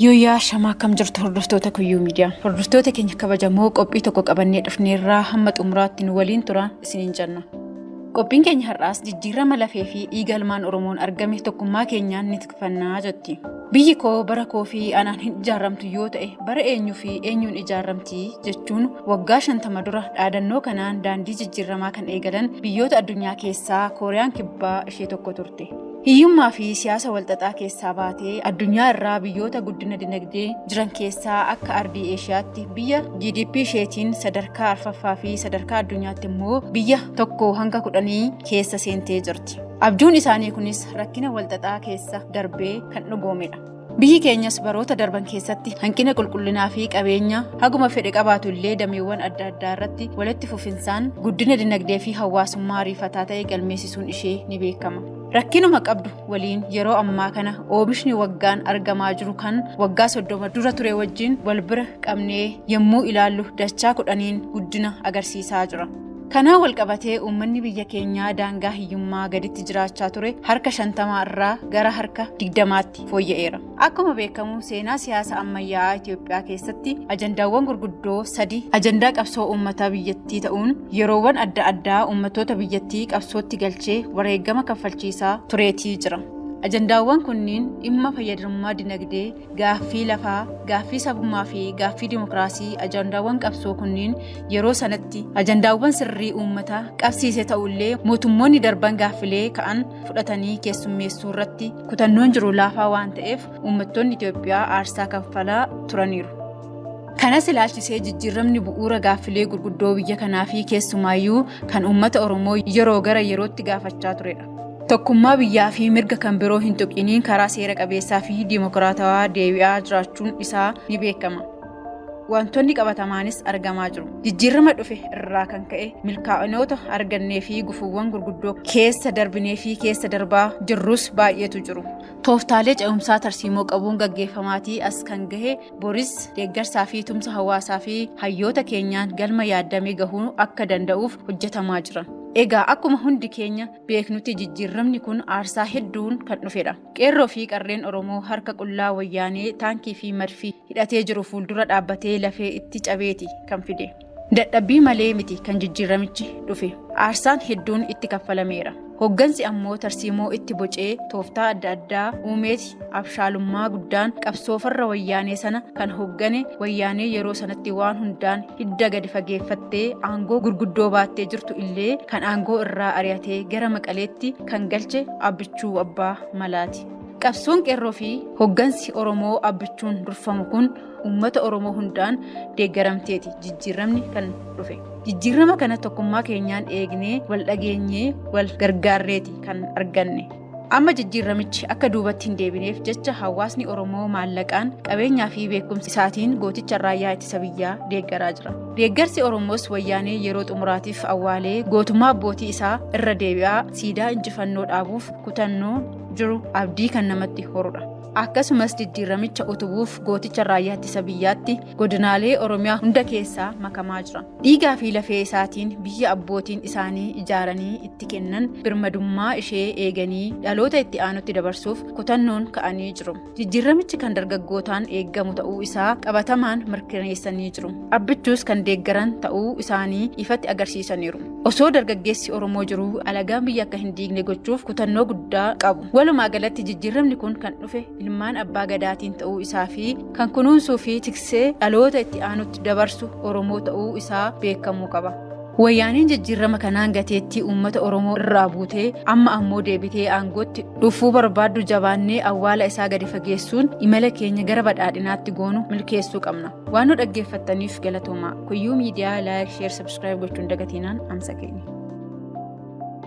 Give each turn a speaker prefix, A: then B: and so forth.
A: Yooyyaa shamaa akkam jirtu hordoftoota kuyyuu miidiyaa. Hordoftoota keenya kabajamoo qophii tokko qabannee dhufneerraa hamma xumuraatti nu waliin tura isiniin jenna. Qophiin keenya har'aas jijjiirama lafee fi dhiiga ilmaan Oromoon argame tokkummaa keenyaan ni tikfannaa jetti. Biyyi koo bara koo fi anaan hin ijaaramtu yoo ta'e bara eenyuu fi eenyuun ijaaramti jechuun waggaa shantama dura dhaadannoo kanaan daandii jijjiiramaa kan eegalan biyyoota addunyaa keessaa Kooriyaan Kibbaa ishee tokko turte. Hiyyummaa fi siyaasa walxaxaa keessaa baatee addunyaa irraa biyyoota guddina dinagdee jiran keessaa akka ardii Eeshiyaatti biyya GDP isheetiin sadarkaa arfaffaa fi sadarkaa addunyaatti immoo biyya tokko hanga kudhanii keessa seentee jirti. Abjuun isaanii kunis rakkina walxaxaa keessa darbee kan dhugoomedha. Biyyi keenyas baroota darban keessatti hanqina qulqullinaa fi qabeenya haguma fedhe qabaatu illee dameewwan adda addaa irratti walitti fufinsaan guddina dinagdee fi hawaasummaa ariifataa ta'e galmeessisuun ishee ni beekama. Rakkinuma qabdu waliin yeroo ammaa kana oomishni waggaan argamaa jiru kan waggaa soddoma dura ture wajjin wal bira qabnee yommuu ilaallu dachaa kudhaniin guddina agarsiisaa jira. Kanaan walqabatee uummanni biyya keenyaa daangaa hiyyummaa gaditti jiraachaa ture harka shantamaa irraa gara harka digdamaatti fooyya'eera. Akkuma beekamu seenaa siyaasa ammayyaa'aa Itoophiyaa keessatti ajandaawwan gurguddoo sadi ajandaa qabsoo uummataa biyyattii ta'uun yeroowwan adda addaa uummattoota biyyattii qabsootti galchee wareegama kaffalchiisaa tureetii jira. Ajandaawwan kunniin dhimma fayyadamummaa dinagdee, Gaaffii lafaa, gaaffii sabummaa fi gaaffii dimokiraasii ajandaawwan qabsoo kunniin yeroo sanatti ajandaawwan sirrii uummataa qabsiise ta'ullee mootummoonni darban gaaffilee ka'an fudhatanii keessummeessuu irratti kutannoon jiru laafaa waan ta'eef uummattoonni Itoophiyaa aarsaa kaffalaa turaniiru. Kanas ilaalchisee jijjiiramni bu'uura gaaffilee gurguddoo biyya kanaa fi keessumaayyuu kan uummata Oromoo yeroo gara yerootti gaafachaa turedha. tokkummaa biyyaa fi mirga kan biroo hin tuqiniin karaa seera qabeessaa fi dimokiraatawaa deebi'aa jiraachuun isaa ni beekama. Wantoonni qabatamaanis argamaa jiru. Jijjiirama dhufe irraa kan ka'e milkaa'inoota argannee fi gufuuwwan gurguddoo keessa darbinee fi keessa darbaa jirrus baay'eetu jiru. Tooftaalee ce'umsaa tarsiimoo qabuun gaggeeffamaatii as kan gahe Boris deeggarsaa fi tumsa hawaasaa fi hayyoota keenyaan galma yaaddamee gahuu akka danda'uuf hojjetamaa jira. Egaa akkuma hundi keenya beeknutti jijjiirramni kun aarsaa hedduun kan dhufedha. Qeerroo fi qarreen Oromoo harka qullaa wayyaanee taankii fi madfii hidhatee jiru fuuldura dhaabbatee lafee itti cabeeti kan fide. Dadhabbii malee miti kan jijjiirramichi dhufe. Aarsaan hedduun itti kaffalameera. Hoggansi ammoo tarsiimoo itti bocee tooftaa adda addaa uumeeti abshaalummaa guddaan qabsoo farra wayyaanee sana kan hoggane wayyaanee yeroo sanatti waan hundaan hidda gadi fageeffattee aangoo gurguddoo baattee jirtu illee kan aangoo irraa ari'atee gara maqaleetti kan galche abbichuu abbaa malaati. Qabsoon qeerroo fi hoggansi Oromoo abbichuun durfamu kun uummata Oromoo hundaan deeggaramteeti jijjiiramni kan dhufe. Jijjiirama kana tokkummaa keenyaan eegnee wal dhageenyee wal gargaarreeti kan arganne. Amma jijjiiramichi akka duubatti hin deebineef jecha hawaasni Oromoo maallaqaan qabeenyaa fi beekumsa isaatiin gooticha raayyaa ittisa biyyaa deeggaraa jira. Deeggarsi Oromoos wayyaanee yeroo xumuraatiif awwaalee gootummaa abbootii isaa irra deebi'aa siidaa injifannoo dhaabuuf kutannoo jiru abdii kan namatti horudha. akkasumas jijjiiramicha utubuuf gooticha raayyaa ittisa biyyaatti godinaalee oromiyaa hunda keessaa makamaa jira dhiigaa fi lafee isaatiin biyya abbootiin isaanii ijaaranii itti kennan birmadummaa ishee eeganii dhaloota itti aanutti dabarsuuf kutannoon ka'anii jiru jijjiiramichi kan dargaggootaan eeggamu ta'uu isaa qabatamaan mirkaneessanii jiru abbichuus kan deeggaran ta'uu isaanii ifatti agarsiisaniiru osoo dargaggeessi oromoo jiruu alagaan biyya akka hin diigne gochuuf kutannoo guddaa qabu Walumaa galatti jijjiirramni kun kan dhufe ilmaan abbaa gadaatiin ta'uu isaa fi kan kunuunsuu fi tiksee dhaloota itti aanutti dabarsu Oromoo ta'uu isaa beekamuu qaba. Wayyaaneen jijjiirrama kanaan gateettii uummata Oromoo irraa buutee amma ammoo deebitee aangootti dhufuu barbaaddu jabaannee awwaala isaa gadi fageessuun imala keenya gara badhaadhinaatti goonu milkeessuu qabna. Waan nu dhaggeeffattaniif galatoomaa. Kuyyuu miidiyaa laayik, sheer, sabskiraayib gochuun dagatinaan amsa keenya.